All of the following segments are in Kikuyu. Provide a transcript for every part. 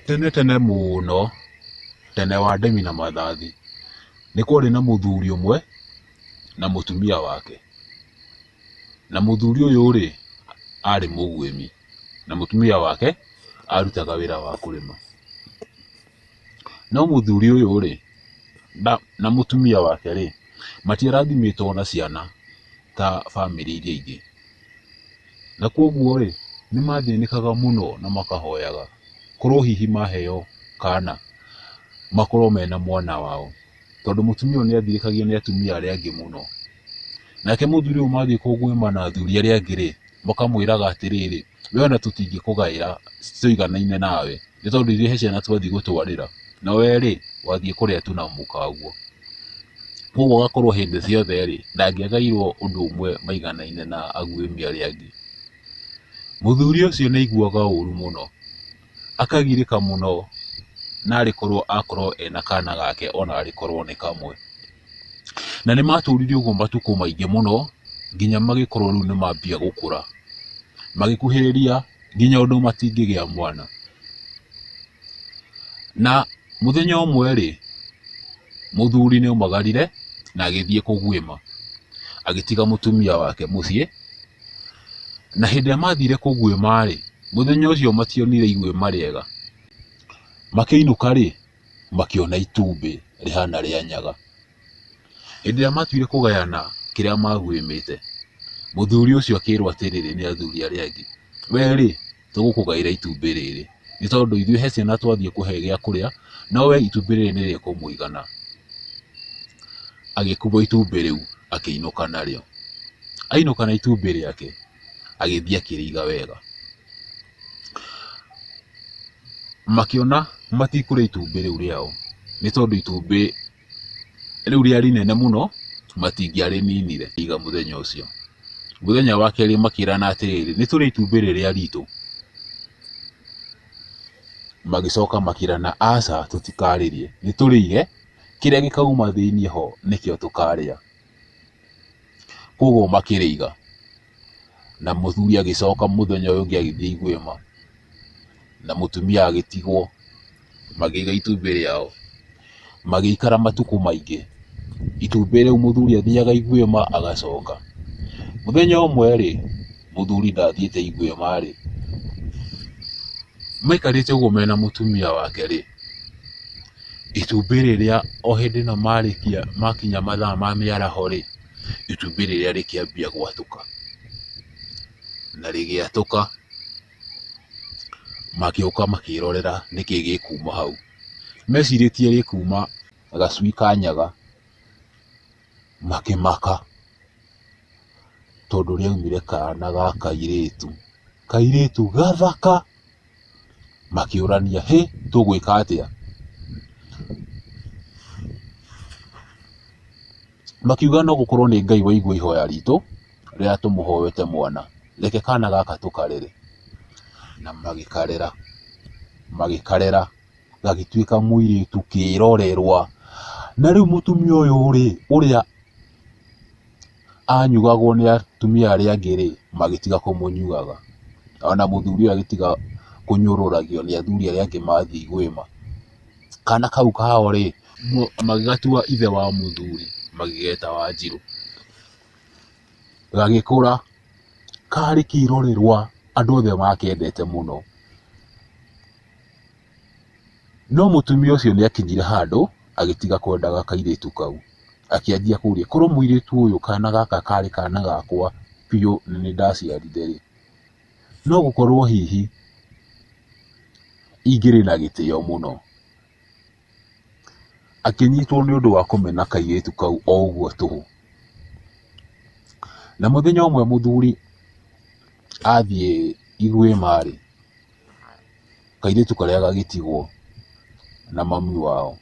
Tene tene mũno, tene wa ndemi na mathathi, nĩ kwarĩ na mũthuri ũmwe na mũtumia wake. Na mũthuri ũyũ rĩ, arĩ mũguĩmi, na mũtumia wake arutaga wĩra wa kũrĩma. No mũthuri ũyũ rĩ, na mũtumia wake rĩ, matiarathimĩtwo na ciana ta bamĩrĩ iria ingĩ. Na kwoguo-rĩ, nĩmathĩnĩkaga mũno na makahoyaga korwo hihi maheo kaana makorwo mena mwana wao, tondũ mũtumia ũyũ nĩathirĩkagio nĩ atumia arĩa angĩ mũno. Nake mũthuri ũyũ mathiĩ kũngũĩma na athuri arĩa angĩ-rĩ, makamwĩraga atĩrĩrĩ, wee ona tũtingĩkũgaĩra citiiganaine nawe, nĩ tondũ ithuĩ he ciana twathiĩ gũtwarĩra. na we rĩ wathiĩ kũrĩa tu na mũka waguo koguo agakorwo hĩndĩ ciothe rĩ ndangĩagairwo ũndũ ũmwe maiganaine na aguĩmi arĩa angĩ mũthuri ũcio nĩ aiguaga ũũru mũno akagirĩka mũno na arĩkorwo akorwo ena kana gake ona arĩkorwo nĩ kamwe na nĩ matũrire ũguo matukũ maingĩ mũno nginya magĩkorwo rĩu nĩ mambia gũkũra magĩkuhĩrĩria nginya ũndũ matingĩgĩa mwana. Na mũthenya ũmwe rĩ, mũthuri nĩ omagarire na agĩthiĩ kũguĩma, agĩtiga mũtumia wake mũciĩ, na hĩndĩ ĩrĩa mathire kũguĩma rĩ, mũthenya ũcio mationire iguĩma rĩega, makĩinũka rĩ, makĩona itumbĩ rĩhana rĩa nyaga. Hĩndĩ ĩrĩa matuire kũgayana kĩrĩa maguĩmĩte, mũthuri ũcio akĩrwo atĩrĩrĩ nĩ athuri arĩa angĩ, we rĩ, tũgũkũgaĩra itumbĩ rĩrĩ, nĩ tondũ ithuĩ he ciana twathiĩ kũhe gĩa kũrĩa, no we itumbĩ rĩrĩ nĩ rĩkũmũigana. Agĩkuua itumbĩ rĩu akĩinũka narĩo. Ainũka na itumbĩ rĩake, agĩthiĩ akĩrĩiga wega. Makĩona matikũrĩa itumbĩ rĩu rĩao, nĩ tondũ itumbĩ... rĩu rĩarĩ inene mũno matingĩarĩninire iga mũthenya ũcio mũthenya wa kerĩ makĩrana atĩrĩrĩ nĩ tũrĩ itumbĩ rĩrĩa ritũ magĩcoka makĩrana aca tũtikarĩrĩe nĩ tũrĩire kĩrĩa gĩkauma thĩinĩ ho nĩkĩo tũkarĩa. koguo makĩrĩiga na mũthuri agĩcoka mũthenya ũyũ ũngĩ agĩthiĩ igwĩma na mũtumia agĩtigwo magĩiga itumbĩ rĩao magĩikara matukũ maingĩ itumbĩ rĩu mũthuri athiaga igwĩma agacoka mũthenya ũmwe rĩ mũthuri ndathiĩte igwĩma rĩ maikarĩte ũguo mena mũtumia wake rĩ Itumbĩ rĩrĩa o hĩndĩ ĩno marĩkia makinya mathaa ma mĩaraho rĩ, itumbĩ rĩrĩa rĩkĩambia gwatũka. Na rĩgĩatũka, magĩũka makĩrorera nĩkĩ gĩkuuma hau. Mecirĩtie gĩkuuma gacui ka nyaga, makĩmaka tondũ rĩaumire kana ga kairĩtu. Kairĩtu gathaka! makĩũrania hĩ tũgwĩka atĩa? Makiuga no gũkorwo nĩ Ngai waigua ihoya ritũ rĩrĩa tũmũhoete mwana, reke kana gaka tũkarere. Na magĩkarera, magĩkarera gagĩtuĩka mũirĩtu kĩrorerwa. Na rĩu mũtumia ũyũ rĩ, ũrĩa anyugagwo nĩ atumia arĩa angĩ rĩ, magĩtiga kũmũnyuaga. Ona mũthuri ũyũ agĩtiga kũnyũrũragio nĩ athuri arĩa angĩ mathiĩ igwĩma. Kana kau kao rĩ, magĩgatua ithe wa mũthuri magĩgeta Wanjirũ. Gagĩkũra, karĩ kĩrorerwa andũ othe makendete mũno. No mũtumia ũcio nĩ akinyire handũ agĩtiga kwendaga kairĩtu kau. Akĩanjia kũũria, korwo mũirĩtu ũyũ kana gaka karĩ kana gakwa biũ na nĩ ndaciarire rĩ, no gũkorwo hihi ingĩrĩ na gĩtĩo mũno. Akĩnyitwo nĩ ũndũ wa kũmena kairĩtu kau o ũguo tũhũ. Na mũthenya ũmwe mũthuri athiĩ irĩma rĩ, kairĩtu karĩa gagĩtigwo na mami wao.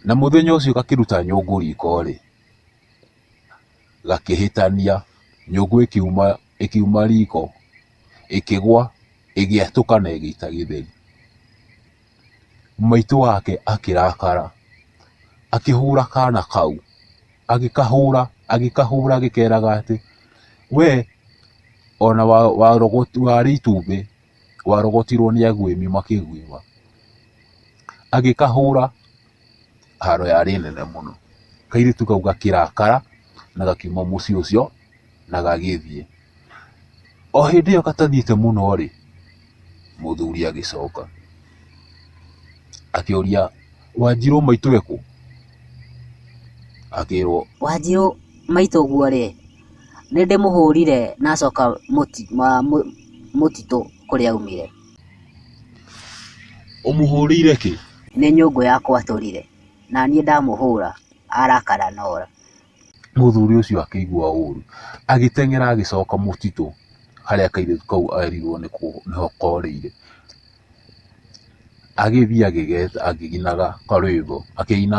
Na mũthenya ũcio gakĩruta nyũngũ riko rĩ, gakĩhĩtania, nyũngũ ĩkiuma, ĩkiuma riko, ĩkĩgwa, ĩgĩatũka na ĩgĩita gĩtheri. maitũ wake akĩrakara, akĩhũra kana kau, agĩkahũra, agĩkahũra agĩkeraga atĩ, wee ona warĩ itumbĩ warogotirwo nĩ agwĩmi makĩgwĩma, agĩkahũra. haro yarĩ nene mũno. Kairĩtu kau gakĩrakara na gakiuma mũciĩ ũcio na gagĩthiĩ. O hĩndĩ ĩyo gatathiĩte mũno rĩ, mũthuri agĩcoka akĩũria, Wanjirũ maitũ ekũ? Akĩrwo, Wanjirũ maitũ ũguo rĩ, nĩ ndĩmũhũrire na acoka mũtitũ kũrĩa aumire. Ũmũhũrĩire kĩ? Nĩ nyũngũ yakwa atũrire, na niĩ ndamũhũra arakara na oora. Mũthuri ũcio akĩigua ũũru, agĩteng'era agĩcoka mũtitũ harĩa kairĩtu kau erirwo nĩho korĩire. Agĩthiĩ agĩgeta akĩinaga karwĩmbo akĩina.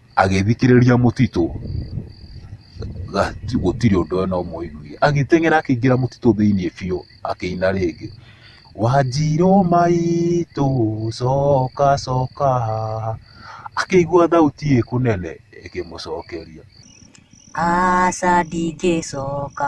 Agĩthikĩrĩria mũtitũ gũtirĩ ũndũ ona ũmwe aiguire. Agĩteng'era akĩingĩra mũtitũ thĩinĩ biũ akĩina rĩngĩ, Wanjirũ maitũ coka coka haha. Akĩigua thauti ĩ kũnene ĩkĩmũcokeria, Aca ndingĩcoka.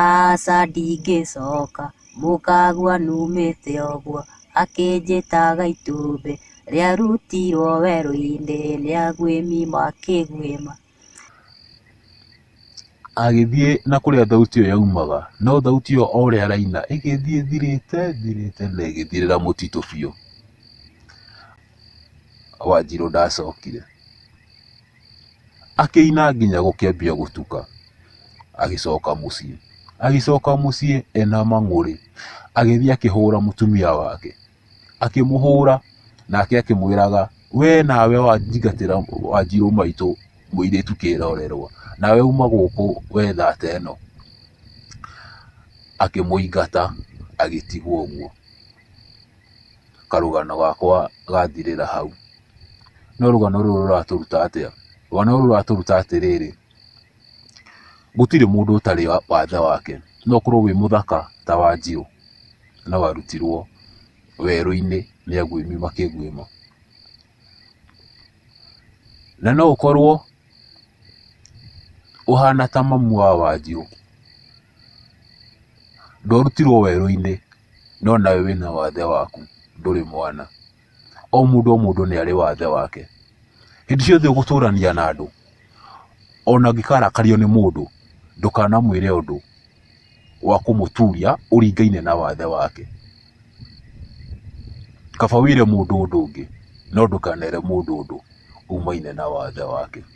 Aca ndingĩcoka, mũkagwa numĩte ũguo. Akĩnjĩtaga itumbĩ rĩarutirwo werũ-inĩ nĩ aguĩmi makĩguĩma. Agĩthiĩ na kũrĩa thauti ĩyo yaumaga, no thauti ĩyo o ũrĩa araina ĩgĩthiĩ ĩthirĩte ĩthirĩte na ĩgĩthirĩra mũtitũ biũ. Wanjirũ ndacokire. Akĩina nginya gũkĩambia gũtuka. Agĩcoka mũciĩ. Agĩcoka mũciĩ ena mang'ũrĩ. Agĩthiĩ akĩhũra mũtumia wake. Akĩmũhũra nake akĩmwĩraga we nawe wanjingatĩra Wanjirũ maitũ mũirĩtu kĩrorerwa. Nawe uma gũkũ we thate ĩno. Akĩmũingata agĩtigwo ũguo. Karũgano gakwa gathirĩra hau. No rũgano rũrũ rũratũruta atĩa? Rũgano rũrũ rũratũruta atĩrĩrĩ, gũtirĩ mũndũ ũtarĩ wathe wake. No ũkorwo wĩ mũthaka ta Wanjirũ, no warutirwo werũ-inĩ nĩ aguĩmi makĩguĩma. Na no ũkorwo ũhana ta mamu wa Wanjirũ, ndwarutirwo werũ-inĩ, no nawe wĩna wathe waku, ndũrĩ mwana. o mũndũ o mũndũ nĩ arĩ wathe wake. Hĩndĩ ciothe ũgũtũrania na andũ, ona ũngĩkarakario nĩ mũndũ, ndũkanamwĩre ũndũ wa kũmũturia ũringaine na wathe wake. Kaba wĩre mũndũ ũndũ ũngĩ, no ndũkanere mũndũ ũndũ umaine na wathe wake.